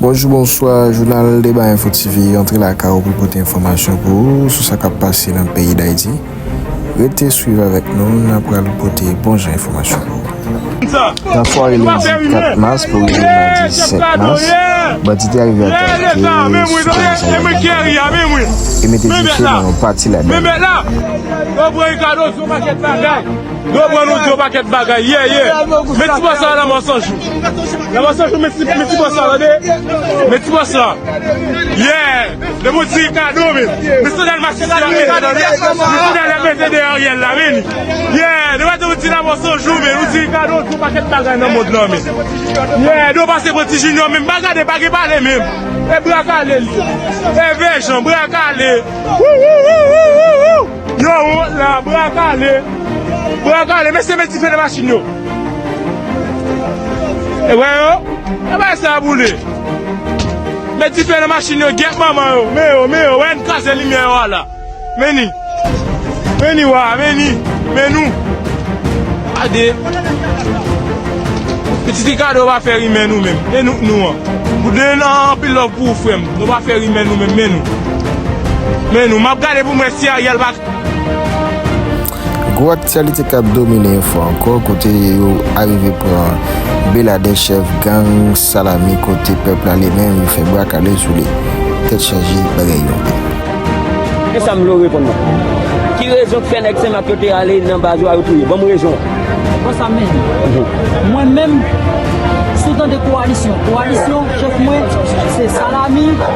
Bonjou bonswa jounal deba info TV antre lakay ou pou pote enfòmasyon pou ou sou sa kap pase nan peyi Dayiti rete swiv avèk nou nan pral pote bon jan enfòmasyon pou ou. Nan sware lendi 4 mas pou rive madi 7 mas bandi te arive atake sou komisarya Bèlè Kafou e mete dife nan yon pati ladann. Yo pran nou di yon pakèt bagay ye ye Men ti bòs la la mò san jou La mò san jou men ti men ti bòs la tande Men ti bòs la ye Lè mò di kado men Men sandal masisi la men kado men Men sandal la mètè dèyè Ariel la men li ye Nou pa di yon ti la mò san jou men Nou di kado di yon pakèt bagay nan mond lan men ye Nou pase pran ti junior men pa gade pa gen pale men E bra kale li ye E vè jan bra kale Wouwouwouwouwou Yo wont la bra kale. Bra kale mesye met dife nan machin yo. E wè yo. E bagay sa a boule. Met dife nan machin yo gyèt manman yo. Men yo men yo wè n kraze limyè yo a la. Men ni. Men ni wa men ni. Men nou. Gade. Pitit Ricardo pa fè rimè nou menm. E nou k nou an. Bouden anpil love pou ou frè m. Nou pa fè rimè nou menm men nou. Men nou, map gade poum wè si Ariel pa. Gwo aktyalite kap domine enfo ankò kote yo arive pran Beladè chèf gang salami kote pèp la li menm yo fè bwa kale sou li. Tèt chaje bagay yo anpil. Gen sa m vle w reponn mwen. Ki rezon k fè nèg senmak yo te ale nan baz ou a yo touye? Ban m rezon an. Bon sa m menm. Mwen menm, si w tande kowalisyon, kowalisyon chèf mwen se salami.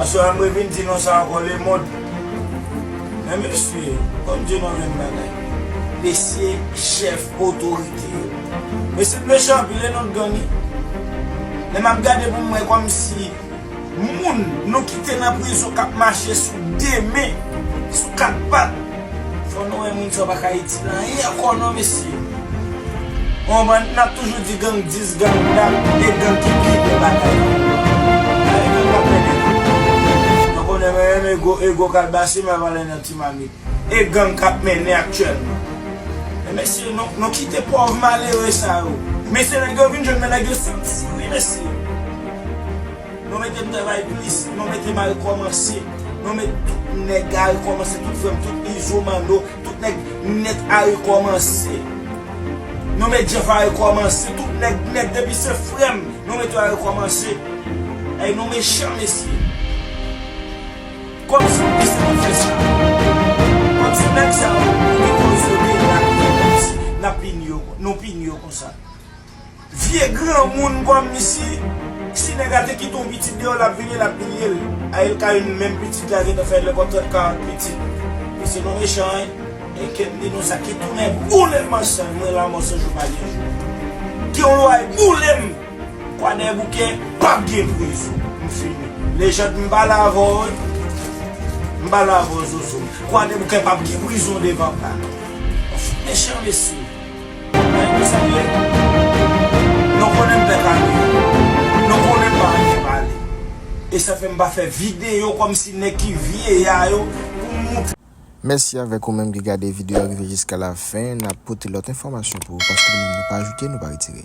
Aswè a mwen vin di non sa ankò lemond men mesye konn di non menm bagay. Mesye chèf otorite yo. Mesye t mechan anpil le nou t gangi. Lè map gade pou mwen kòmsi moun nou kite nan prizon kap mache sou 2 men, sou 4 pat. Fò nou wè moun sa pa ka itil anyen ankò non mesye. Bon bann nap toujou di gang 10 gang dat 2 gang ki pi bel bagay nan mond lan. Gade gang kap fè 2 gang. Nou konnen men menm ego ego kalbase men valè nan ti mamit. E gang kap mennen aktyèlman. Men mesye nou kite pòv malere sa yo. Mesye nèg yo vin jwenn men nèg yo santi wi mesye. Non mete travay plis non mete mal komanse non met tout neg a rekomanse tout frem tout izo manno tout neg net a rekomanse non met jeff a rekomanse tout neg net depi se frem non met yo a rekomanse ayy nou mechan mesye kom si nou te santi fe sa kom si neg sa yo te koze de la nou pini yo konsa. Vye granmoun kom si si neg la te kite yon pitit deyo lap vini lap milyel a el ka yn menm pitit la gentan fè lekol 30 40 pitit mesye nou mechan wi e kem di nou sa ki tounen boulem man chan mwen lanmo se jou pa gen jou gen yon lwa yp boulem kwadèboukè pap gen prizon m fini lejand m pale avèw wi m pale avèw zozo kwadèboukè pap gen prizon devan pa nou mechan mesye. Mèsi avèk ou menm ki gade video a rive jiska la fen, nap pote lòt enfòmasyon pou ou paske nou menm nou pa ajoute nou pa retire.